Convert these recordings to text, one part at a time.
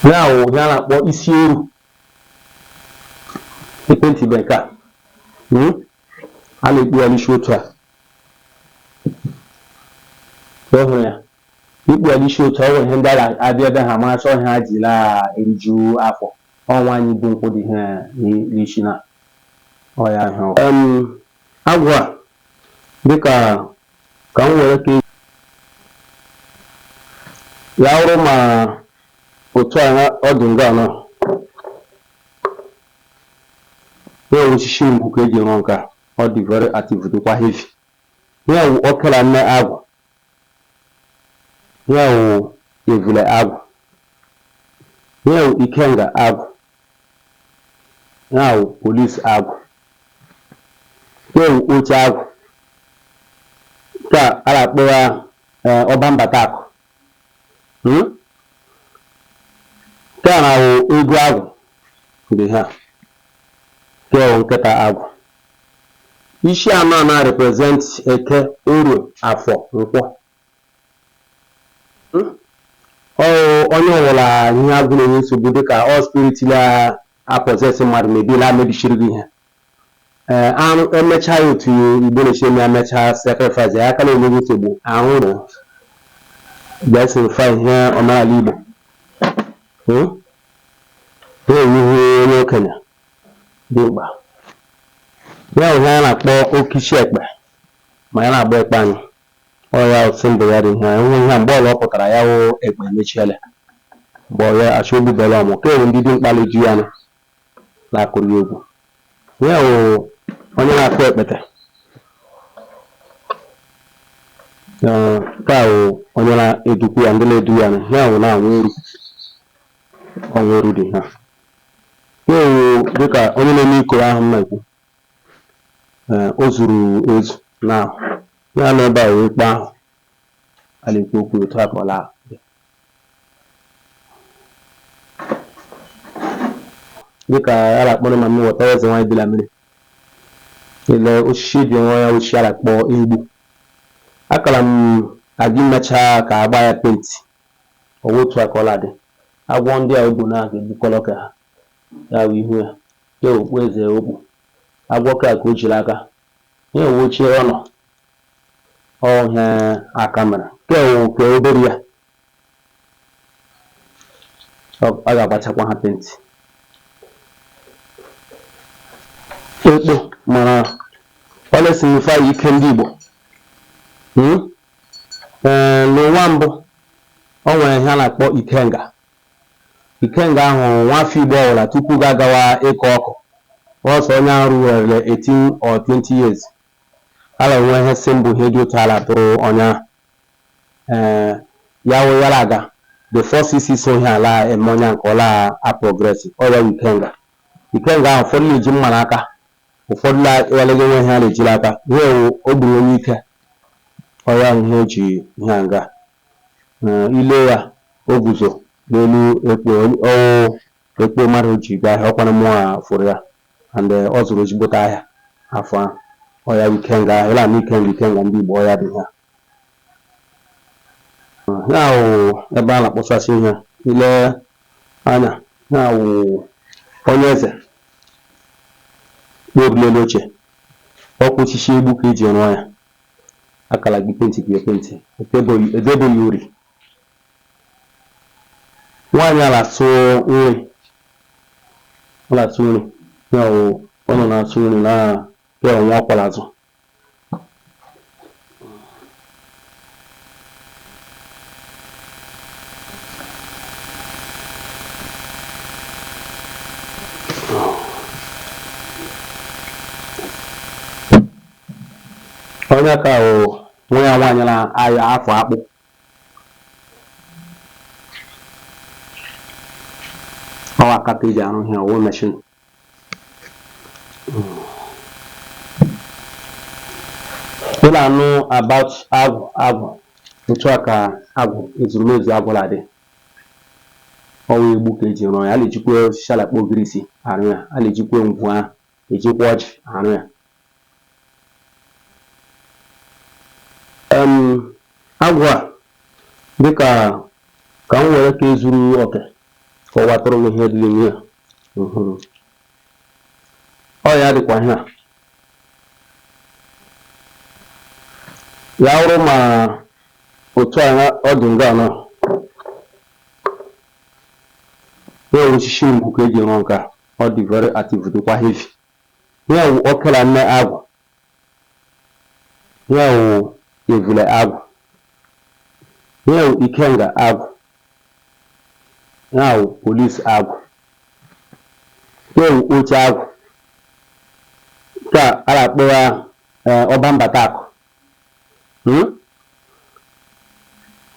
ya wụ ihe a na-akpọ isi eru e pentibe nke a hmm? a na-ekpu ya n'isi otu a ịhụrụ ya ikpu ya n'isi otu ọ nwere ihe ndị a ga-abịa ebe ha mara chọọ ihe ha ji la-eriju afọ ọ nwaanyị bu nkụ dị ihe n'isi na ọ ya wụ agwụ a dịka ka m were ka ya wụrụ ma otu a ọ dị nga na ya wụ osisi ngwu ka e ji rụọ nke a ọ dị very active dịkwa heavy ya wụ ọkara nne agwụ Ihe a wụ evule agwụ. Ihe a wụ ikenga agwụ. Ihe a wụ police agwụ. Ihe a wụ oche agwụ. Nke a a na-akpọ ya eh, ọba mbata akụ. Hmm? Nke a na-awụ ego agwụ dị ihe a. Nke a wụ nkịta agwụ. Isi anọ a na represent Eke, Orie, Afọ, Nkwọ. Hmm? Ọ onye ọwụla ihe agwụ na-enye nsogbu dịka ọ spirit la-apossess mmadụ mebi la-emebisiri gị ihe ee e mechaa ya otu Igbo na-esi eme ya mechaa sacrifice ya aka na-enye gị nsogbu ahụrụ ga-esignify ihe omenala Igbo Hmm? ihe a wụ onye okenye dimkpa. Ihe a wụ ihe anyị na-akpọ oke isi ekpe ma anyị na-agba ekpe anyị. Ọ ya bụ symbol ya dị ihe a. Ihe a wụ ihe a mgbe ọla ọ pụtara ya wụ ekpe emechiele. Mgbe ọ ya achọ o bubele ọmụ. Nke a wụ ndị dimkpa na-edu ya nụ na-akụrụ ya egwu. Ihe a wụ onye na-akụ ekpete. Ee, nke a wụ onye na-edukwu ya ndị na-edu ya nụ. Ya wụ na-awụ eru. Ọ wụ eru dị ihe a. Ya wụ dịka onye na-eme ikoro ahụ m na-ekwu ee o zuru ezu na ya nọ ebe a wụ ekpe ahụ a na-ekwu okwu otu a ka ọ la-adị nke a a na-akpọ Mami Wata eze nwaanyị bi la mmiri ele osisi dị nwa ya osisi a na-akpọ egbu akara m aga imecha ka a gbaa ya penti Ọ bụ otu a ka ọ la-adị. Agwọ ndị a o bu n'aka e gbukọrọ ka ha. Ya bụ ihu ya. Ya bụ okpu eze o kpu. Agwọ nke a ka o ji l'aka. Ihe a wụ oche ọ nọ. Ọ ihe aka mere. Nke a wụ nke obere ya. A ga-agbachakwa ha penti. Ekpo mara ọ na-esignify ike ndị Igbo. Hmm? Ee, n'ụwa mbụ, o nwere ihe a na-akpọ Ikenga. Ikenga ahụ nwafọ Igbo ọbụla tupu ga-agawa ịkụ ọkụ, ọsọ onye ahụ ruwerele 18 or 20 years, a la-enwe ihe symbol ihe dị otu a la-atụrụ onye ahụ. Ee, ya wụ ya la-aga, the first isi so ihe a la-eme onye ahụ ka ọ la-aprogress, ọ ya wụ Ikenga. Ikenga ahụ ụfọdụ na-eji mma n'aka Ụfọdụ na ịwalego nwe ihe a na-eji n'aka. Ihe a wụ o gburu onye ike, ọ ya wụ ihe o ji ihe a nga. Ee, i lee ya, o guzo n'elu ekpo, ọ wụ ekpo mmadụ o ji gaa ahịa, ọ kwanụ mụnwa fụrụ ya and ọ zụrụ ezigbote ahịa afọ ahụ. Ọ ya wụ ikenga ahụ, ị na-anụ ikenga ikenga ndị Igbo, ọ ya dị ihe a. ihe a wụ ebe a na-akpọsasị ihe ile anya ihe a wụ onye eze kpọbi l'elu oche ọkwa osisi egbu ka eji rụọ ya a ka la-eji penti eji penti edebo ya uri nwaanyị a na-asụ nri ọ na-asụ nri ya wụ ọ nọ na-asụ nri na ya nwa ọ kwọ l'azụ onye ka o nwa ya nwaanyị na-aya afọ akpụ ọ wụ aka ka eji arụ ihe ọ wụ meshin ị na-anụ about agwụ agwụ otu a ka agwụ ezurumezu agwụ na-adị ọwa egbu ka eji rụọ ya a na-ejikwa osisi a la-akpọ ogirisi arụ ya a na-ejikwa ngwu ahụ ejikwa ọjị arụ ya um Agwụ a dịkà kà m nwèrè kà ezuru ọkè kà ọ wàtụrụ m ihe dị n'ime ya ǹhụrụ̇ ọ yà dịkwà ihe à yà awụrụ mà òtù à nà ọ dị̀ ǹgà ànọ ya òshishi ǹkù kà e jì rụọ ǹkà ọ dị̀ vere àtịvù dịkwà heavy Ihe a wụ oke la nne agwụ. Ihe a wụ evule agwụ. Ihe a wụ ikenga agwụ. Ihe a wụ polis agwụ. Ihe a wụ oche agwụ. Nke a a na-akpọ ya ee, ọba mbata akụ. hmm?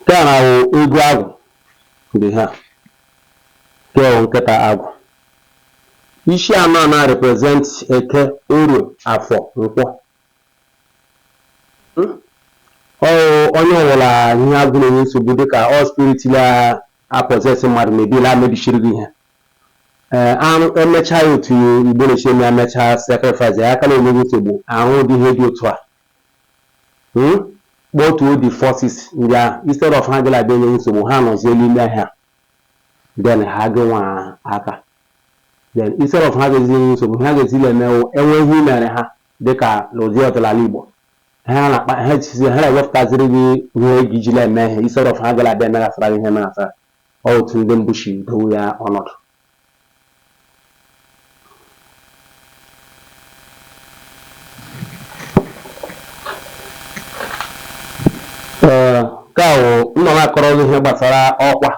nke a na-awụ eghu agwụ dị ha nke a wụ nkịta agwụ isi anọ a na-represent eke orie afọ nkwọ hmm? ọwụ onye ọwụla ihe agwụ na-enye nsogbu dịka ọ spirit la-apossess mmadụ mebila mebisiri gị ihe ee arụ emechaa ya otu igbo na-esi eme ya mechaa sacrifice ya aka na-enye gị nsogbu ahụ ụdị ihe dị otu a Hmm? kpọtuo the forces ndị ahụ instead of ha ga la-abịa enye gị nsogbu ha nọzie n'ime ihe a then ha gị nwa aka then instead of ha ga-ezi enye gị nsogbu ha ga-ezi na-eme wụ enwe ihe i mere ha dịka n'ụdị ọdịnala igbo ha na-akpa ha jizi ha na-ewepụtaziri gị ihe ị ga-eji na-eme ihe instead of ha ga la-abịa emeghasara gị ihe emeghasara Ọ otu ndị mbụ si dowe ya ọnọdụ. Ee, nke a wụ m nọ na-akọrọ gị ihe gbasara ọkwa.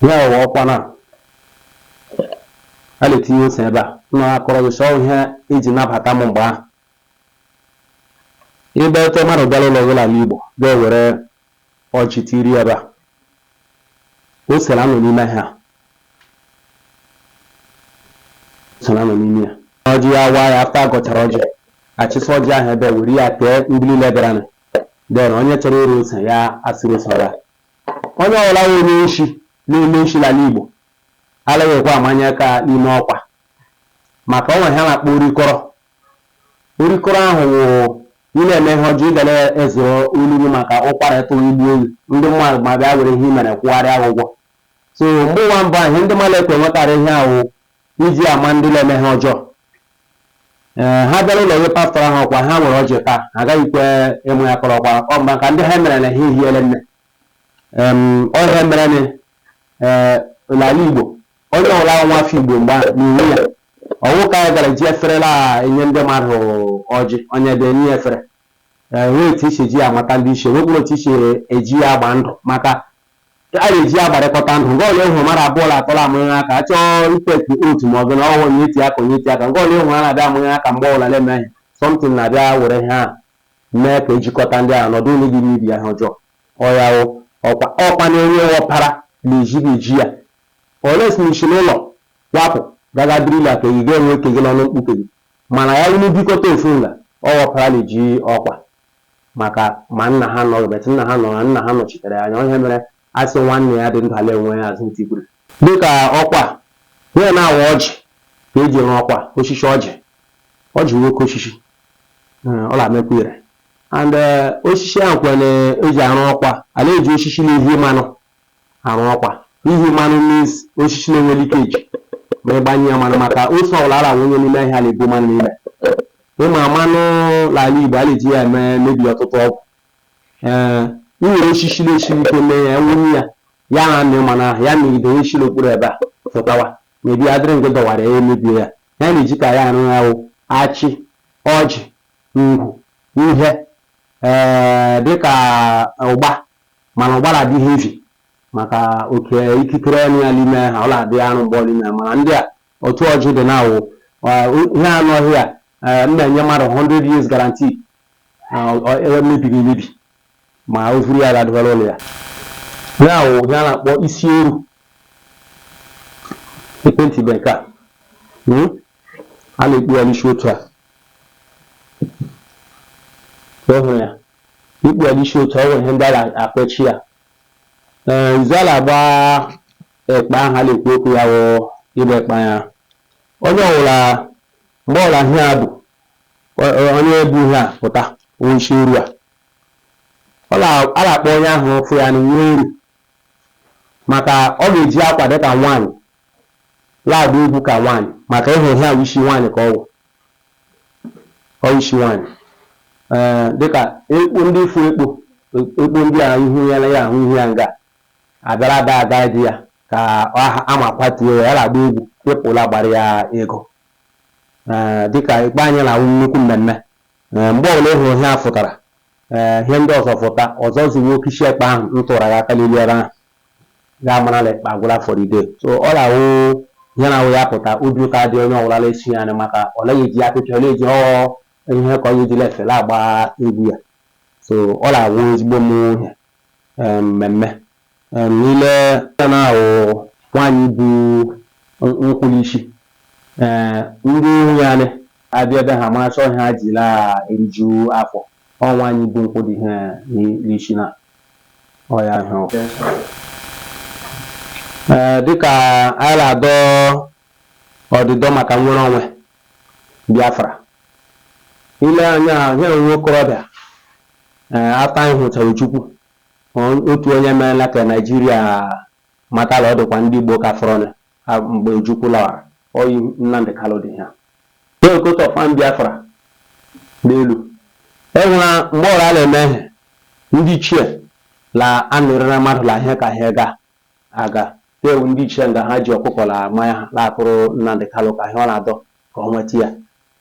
Ihe a wụ ọkwa na a na-etinye ose ebe a. M nọ na-akọrọ gị sị ọ ihe eji nabata m mgbe ahụ. Ịnabata mmadụ bịara ụlọ gị n'ala Igbo ga-ewere ọjị tiiri ebe a ose na-anọ n'ime ha ose na-anọ n'ime ya ọjị ya waa ya after agọchara ọjị achịsị ọjị ahụ ebe were ya tee ndị niile bịaranụ then onye chọrọ ịra ose ya asụrụ ose raa onye ọbụla wụ onye nshi na-eme nshi n'ala Igbo alaghịkwa amanye aka n'ime ọkwa maka o nwere ihe a na-akpọ orikọrọ Orikoro ahụ wụ ị na-eme ihe ọjọọ, ị ga na-ezoro olu gị maka ụkwara ịtụ gị gbuo gị, ndị mmadụ ma bịa were ihe i mere kwụgharịa gị ụgwọ. So mgbe ụwa mbụ ahụ, ihe ndị mmadụ ekwe nwetara ihe a wụ iji ama ndị na-eme ihe ọjọọ. Ee, ha bịara ụlọ gị pasara ha ọkwa ha ewere ọjị taa, ha agaghịkwa ịmanye aka n'ọkwa ọ maka ndị ha mere na ha ehiele nne. Em, ọ ihe mere na ee, n'ala Igbo Onye ọwụla wụ nwa afọ Igbo mgbe ahụ na-enwe ya. Ọwụ ka anyị gara ji efere la enye ndị mmadụ ọjị, onye bịa enye ya efere. Ee, enwere otu esi eji ya amata ndị ichie, enwekwara otu esi eji ya agba ndụ maka a na-eji ya agbarịkọta ndụ. Nke ọla ịhụ mmadụ abụọ la atọ la amanye aka, a chọọ ịtake oath ma ọ bụ na ọwụ onye iti aka onye iti aka. Nke ọla ịhụ ha na-abịa amanye aka mgbe ọbụla na-eme ihe. Something na-abịa were ihe ahụ mee ka ejikọta ndị ahụ na ọ dịghị onye ga-eme ibe ya ihe ọjọọ. Ọ ya wụ ọkwa ọkwa na-enye ọpara na-ejighị eji ya. Ole si n'isi n'ụlọ wapụ gaga biri na ke gị ga-enwe ke gị n'ọnụ mkpuke gị mana ya unu bikọta ofu nga ọ wụ ọpara na-eji ọkwa maka ma nna ha anọghị but nna ha nọrọ na nna ha nọchitere ya anya ọ ihe mere a sị nwanne ya dị ndụ ala enwe ya azụ ntị gwuru. Dịka ọkwa a, ihe na-awụ ọjị ka e ji rụọ ọkwa oshishi ọjị. Ọjị wụ oke oshishi, ọ na-amịkwa ire and oshishi ahụ kwa na e ji arụ ọkwa a, a na-eji oshishi na-ehi mmanụ arụ ọkwa. Ihi mmanụ means oshishi na-enwe leakage ma ị gbanye ya mmanụ maka ose ọbụla a na-awụnye n'ime ihe a na-ebu mmanụ n'ime. Ị ma mmanụ n'ala Igbo a na-eji ya eme mebi ọtụtụ ọgwụ. Ee, i were oshishi na-esiri ike mee ya, wụnye ya, ya na-amị mmanụ ahụ, ya mịgide ihe shiri okpuru ebe a fụtawa. Mebi ya dịrị nke dọwara ya emebie ya. Ihe a na-eji ka ya arụ ya wụ achị, ọjị, ngwu, ihe ee dịka ụgba mana ụgba na-adị heavy maka oke ikikere ọnụ ya n'ime ha ọ na-adị arụ mgbe ọ n'ime ya mana ndị a otu ọjị dị na-awụ ihe anụ ọhịa eh, m na-enye mmadụ 100 years guarantee eh, mebiri emebi ma o vuru ya gadịbara ụlọ ya ya wụ ihe a na-akpọ isi eru ekwentị be nke a hmm? a na-ekpu ya n'isi otu a ikpu ya n'isi otu a ọ nwere ihe ndị a na-akpọchi ya ee isi la-agba ekpe ahụ a na-ekwu okwu ya wụ ịgba ekpe ya onye ọwụla mgbe ọwụla ihe a bụ o- o- onye bu ihe a pụta wụ isi eru a ọ na- a na-akpọ onye ahụ fụ ya nwunye eru maka ọ ga-eji akwa dịka nwaanyị la-agba egwu ka nwaanyị maka ịhụ ihe ahụ isi nwaanyị ka ọ wụ ọ ishi nwanyị ee dịka ekpo ndị ị fụ ekpo ekpo ndị a ihu ya na ya ahụ ihu ya nga a bịara dagide ya ka ama kwatuo ya ya la-agba egwu people agbara ya ego ee dịka ekpe anyị na-awụ nnukwu mmemme ee mgbe ọbụla ị hụrụ ihe a fụtara ee ihe ndị ọzọ fụta ọsọ esuwe oke ishi ekpe ahụ m tụrụ ya aka n'elu ebe ahụ ga-amara na ekpe agwụla for the day. So ọ na-awụ ihe na-awụ ya pụta obi ụtọ adị onye ọwụla na-esi ya nị maka ọ naghị eji apịpịa ọ na-eji ọ ihe ka ọ ya ejila efere agba egwu ya so ọ na-awụ ezigbo m ihe em, mmemme Em, niile ya na-awụ nwaanyị bu n- nkwụlụ isi ee ndị nwunye anyị abịa ebe ha mara chọọ ihe ha ji la eriju afọ ọ nwaanyị bu nkwụ dị ihe n'isi na ọya ahụ ee dịka anyị na-adọ ọdịdọ maka nnwere onwe Biafra ile anya ihe nwa okorobịa ee ata anyị hụchara Ojukwu otu onye meela ka Naijiria mata la ọ dịkwa ndị Igbo ka fọrọnụ Ha mgbe Ojukwu lawara, ọ yi Nnamdi Kanu dị ha. E nwere coat of arm Biafra n'elu. E nwere mgbe ọra na-eme ihe, ndị ichie la anụrị na mmadụ la ihe ka ihe ga aga. E nwere ndị ichie nga ha ji ọkụkọ la mmanya ha la-akụrụ Nnamdi Kanu ka ihe ọ na-adọ ka ọ nweta ya.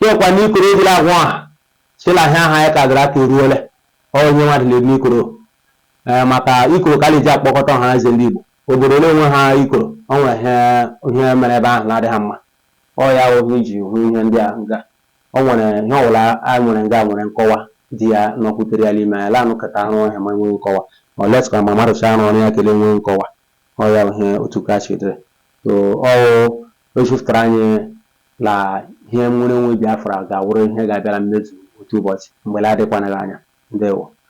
Lekwa ndị ikoro e ji la-agwa ọha sị la ihe ahụ anyị ka gara aka eruole. Ọ onye nwa dị la elu ikoro. Ee, maka ikoro ka a na-eji akpọkọta ọhanaeze ndị Igbo. Obodo na-enwe ha ikoro, o nwere ihe ihe mere ebe ahụ na-adịghị mma. Ọ ya wụ ihe i ji hụ ihe ndị a nga. O nwere ihe ọwụla a nwere nga nwere nkọwa dị ya na okwu tere ya n'ime ya. Lanụ ka ka rụọ ihe ma enweghị nkọwa. Ọ let ka ma mmadụ chaa rụọ ya kele enweghị nkọwa. Ọ ya wụ ihe otu ka chi dịrị. So ọ wụ echefutara anyị la ihe nnwere onwe Biafra ga-awụrụ ihe ga-abịa la mmezu otu ụbọchị mgbe la-adịkwanaghị anya. Ndewo.